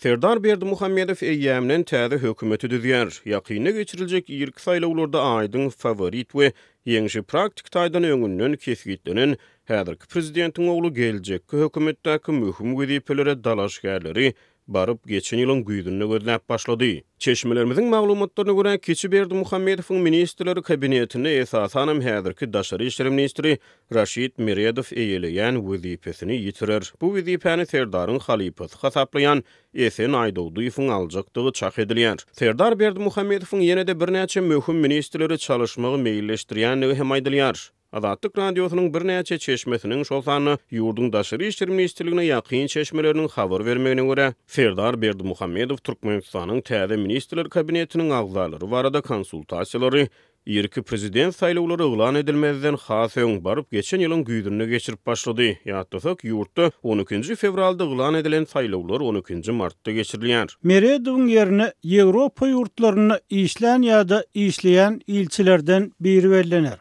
Serdar Berdimuhamedow eýýämden täze hökümeti düzýär. Ýakynda geçiriljek irki saýlawlarda aýdyň faworit we ýeňşi praktiki taýdan öňünden kesgitlenen häzirki prezidentiň ogly geljekki hökümetdäki möhüm wezipelere dalaşgärleri baryp geçen ýylyň güýzünde gözläp başlady. Çeşmelerimiziň maglumatlaryna görä, kiçi Berdimuhamedowyň ministrler kabinetinde esasanam häzirki daşary işler ministri Raşid Meredow eýeleýän wezipesini ýitirer. Bu wezipäni Serdaryň halypasy hasaplaýan Esen Aýdogdyýewiň aljakdygy çak edilýär. Serdar Berdimuhamedowyň ýene-de birnäçe möhüm ministrleri çalyşmagy meýilleşdirýändigi hem aýdylýar. Azatlyk Radiosynyň birnäçe çeşmesiniň, şol sanda ýurduň Daşary işler ministrligine ýakyn çeşmeleriniň habar bermegine görä, Serdar Berdimuhamedow Türkmenistanyň täze Ministrler Kabinetiniň agzalary barada konsultasiýalary Irki prezident saýlawlary yglan edilmezden has öň, baryp geçen ýylyň güýzünde geçirip başlady. Ýatlasak, ýurtda on ikinji fewralda yglan edilen saýlawlar on ikinji martda geçirilýär. Meredowyň ýerine Ýewropa ýurtlarynda işlän ýa-da işleýän ilçilerden biri bellener.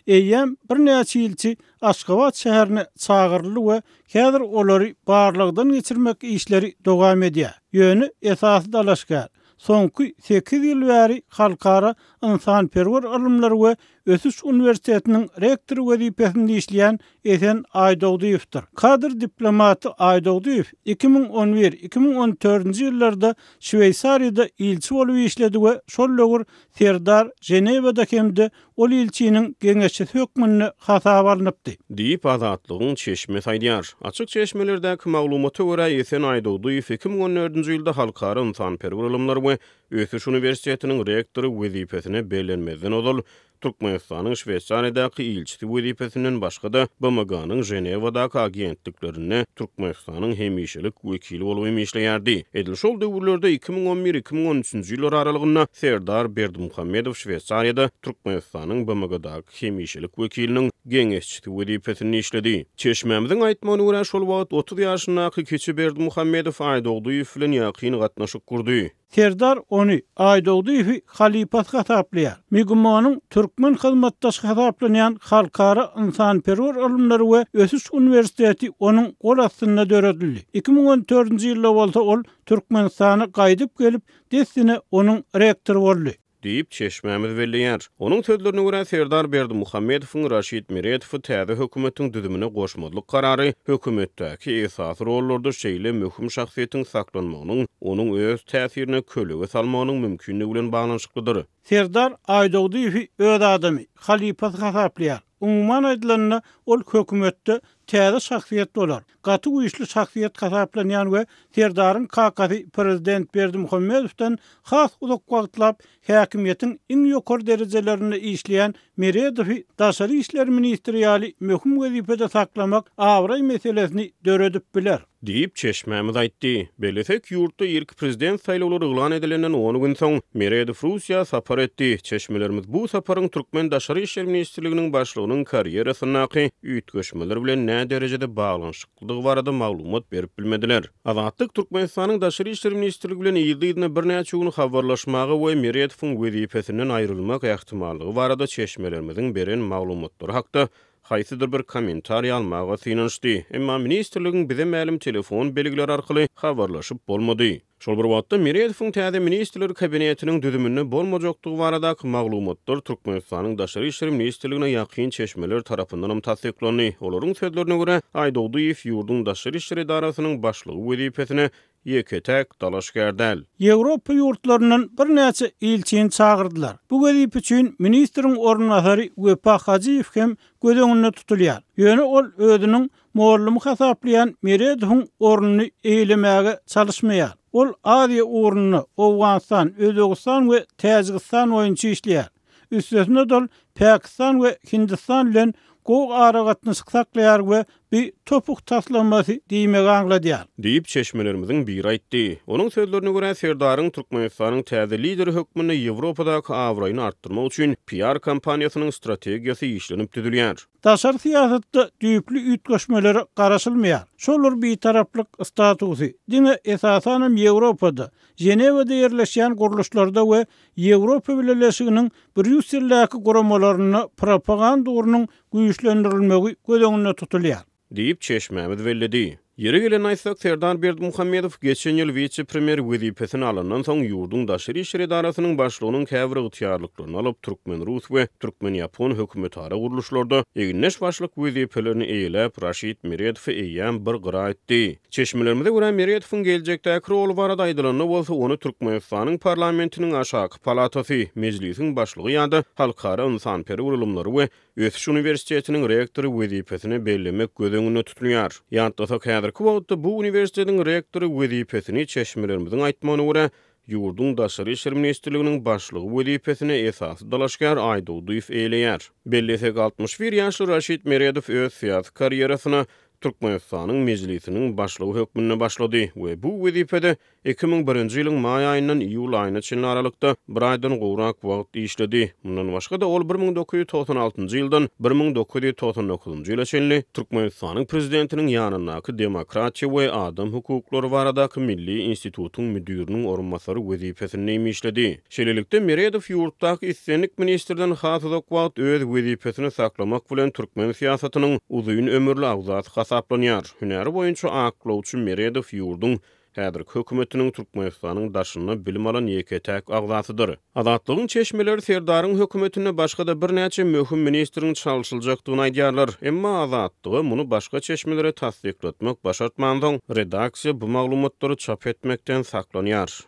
Eýýäm birnäçe ilçi Aşgabat şäherine çagyryldy we häzir olary barlagdan geçirmek işleri dowam edýär. Ýöne esasy dalaşgär, soňky sekiz ýyl bäri Halkara ynsanperwer ylymlar we ösüş uniwersitetiniň rektory wezipesinde işleýän Esen Aýdogdyýewdir. Kadr diplomaty Aýdogdyýew iki müň on bir, iki müň on dördünji ýyllarda Şweýsariýada ilçi bolup işledi we şol döwür Serdar Ženewada hem-de Ol ilçiniň geňeşçisi hökmünde hasaba alnypdy. Diýip, Azatlygyň çeşmesi aýdýar. Açyk çeşmelerdäki maglumata görä, Esen Aýdogdyýew iki müň on dördünji ýylda Halkara ynsanperwer ylymlar we ösüş uniwersitetiniň rektory wezipesine bellenmezden ozal, Türkmenistanyň Şweýsariýadaky ilçisi wezipesinden başga-da, BMG-niň Ženewadaky agentliklerinde Türkmen. Türkmenistanyň hemişelik wekili bolup hem işleýärdi. Edil şol döwürlerde iki müň on bir-iki müň on üçünji ýyllar aralygynda Serdar Berdimuhamedow Şweýsariýada Türkmenistanyň BMG-daky hemişelik wekiliniň geňeşçisi wezipesinde işledi. Çeşmämiziň aýtmagyna görä, şol wagt otuz ýaşyndaky kiçi Berdimuhamedow Aýdogdyýew bilen ýakyn gatnaşyk gurdy. Serdar ony Aýdogdyýewi halypasy hasaplaýar. MIGMO-nyň türkmen hyzmatdaşy hasaplanýan Halkara ynsanperwer ylymlary we ösüş uniwersiteti onuň gol astynda döredildi. Iki müň on dördünji ýylda bolsa ol Türkmenistana gaýdyp gelip, dessine onuň rektory boldy. Diýip, çeşmämiz belleýär. Onuň sözlerine görä, Serdar Berdimuhamedowyň Raşid Meredowy täze hökümetiň düzümine goşmazlyk karary hökümetdäki esasy rollarda şeýle möhüm şahsyýetiň saklanmagynyň onuň öz täsirine kölege salmagynyň mümkindigi bilen baglanyşyklydyr. Serdar Aýdogdyýewi öz adamy, halypasy hasaplaýar. Umuman aýdylanda, ol hökümetde täze şahsyýet bolar. gaty güýçli şahsyýet hasaplanýan we Serdaryň kakasy prezident Berdimuhamedowdan has uzak wagtlap häkimiýetiň iň ýokary derejelerinde işleýän Meredowy daşary işler ministri ýaly möhüm wezipede saklamak abraý meselesini döredip biler. Diýip, çeşmämiz aýtdy. Bellesek, ýurtda irki prezident saýlawlary yglan edilenden on gün soň, Meredow Russiýa sapar etdi. Çeşmelerimiz bu saparyň türkmen Daşary işler ministrliginiň başlygynyň karýerasyndaky üýtgeşmeler bilen näderejede baglanyşyklydygy barada maglumat berip bilmediler. Azatlyk Türkmenistanyň Daşary işler ministrligi bilen yzly-yzyna birnäçe gün habarlaşmaga we Meretowyň wezipesinden aýrylmak ähtimallygy barada çeşmelerimiziň beren maglumatlary hakda haýsydyr bir kommentariý almaga synanyşdy, emma ministrligiň bize mälim telefon belgileri arkaly habarlaşyp bolmady. Şol bir wagtda, Meredowyň täze Ministrler Kabinetiniň düzüminde bolmajakdygy baradaky maglumatlar Türkmenistanyň Daşary işler ministrligine ýakyn çeşmeler tarapyndanam tassyklandy. Olaryň sözlerine görä, Aýdogdyýew ýurduň daşary işler edarasynyň başlygy wezipesine ýeke-täk dalaşgär däl. Ýewropa ýurtlaryndan birnäçe ilçini çagyrdylar. Bu wezipe üçin ministriň orunbasary Wepa Hajyýew hem göz öňünde tutulýar. Ýöne ol özüniň Mollum hasaplaýan Meredowyň ornuny eýelemäge çalyşmaýar. Ol Aziýa ugrunda Owganystan, Özbegistan we Täjigistan boýunça işleýär. Üstesine dol Pakistan we Hindistan bilen gowy aragatnaşyk saklaýar we bi topuk taslamasy diýmegi aňladýar. Diýip, çeşmelerimiziň biri aýtdy. Onuň sözlerine görä, Serdaryň Türkmenistanyň täze lideri hökmünde Ýewropadaky abraýyny artdyrmak üçin PR-kompaniýasynyň strategiýasy işlenip düzülýär. Daşary syýasatda düýpli üýtgeşmelere garaşylmaýar. Şolar bitaraplyk statusy diňe esasanam Ýewropada, Ženewada ýerleşýän gurluşlarda we Ýewropa Bileleşiginiň Brýusseldäki guramalarynda propaganda ugrunyň güýçlendirilmegi göz öňünde tutulýar. Diýip, çeşmämiz belledi. Ýeri gelende aýtsak, Serdar Berdimuhamedow geçen ýyl wise-premýer wezipesini alandan soň, ýurduň Daşary işler edarasynyň başlygynyň käbir ygtyýarlyklaryny alyp, türkmen-rus we türkmen-ýapon hökümetara gurluşlarda egindeş başlyk wezipelerini eýeläp, Raşid Meredowy eýýäm bir gyra itdi. Çeşmelerimize görä, Meredowyň geljekdäki roly barada aýdylanda bolsa, ony Türkmenistanyň parlamentiniň aşaky palatasy, Mejlisiň başlygy ýa-da halkara ynsanperwer ylymlary we Ösüş uniwersitetiniň rektory wezipesine bellemek göz öňünde tutulýar. Ýatlasak, häzirki wagtda bu uniwersitetiň rektory wezipesini, çeşmelerimiziň aýtmagyna görä, ýurduň Daşary işler ministrliginiň başlygy wezipesine esasy dalaşgär Aýdogdyýew eýeleýär. Bellesek, altmyş bir ýaşly Raşid Meredow öz syýasy karýerasyna Türkmenistanyň Mejlisiniň başlygy hökmünde başlady we bu wezipede Iki müň birinji ýylyň maý aýyndan iýul aýyna çenli aralykda bir aýdan gowrak wagt işledi. Mundan başga-da, ol bir müň dokuz ýüz togsan altynjy ýyldan bir müň dokuz ýüz togsan dokuzynjy ýyla çenli Türkmenistanyň Prezidentiniň ýanyndaky Demokratiýa we adam hukuklary baradaky milli institutyň müdiriniň orunbasary wezipesinde hem işledi. Şeýlelikde, Meredow ýurtdaky islendik ministrden has uzak wagt öz wezipesini saklamak bilen türkmen syýasatynyň uzyn ömürli agzasy hasaplanýar. Hünäri boýunça aklawçy Meredow ýurduň Häzirki hökümetiniň Türkmenistanyň daşynda bilim alan ýeke-täk agzasydyr. Azatlygyň çeşmeleri Serdaryň hökümetinde başga-da birnäçe möhüm ministriň çalşyljakdygyny aýdýarlar. Emma Azatlyga muny başga çeşmelere tassyklatmak başartmansoň, redaksiýa bu maglumatlary çap etmekden saklanýar.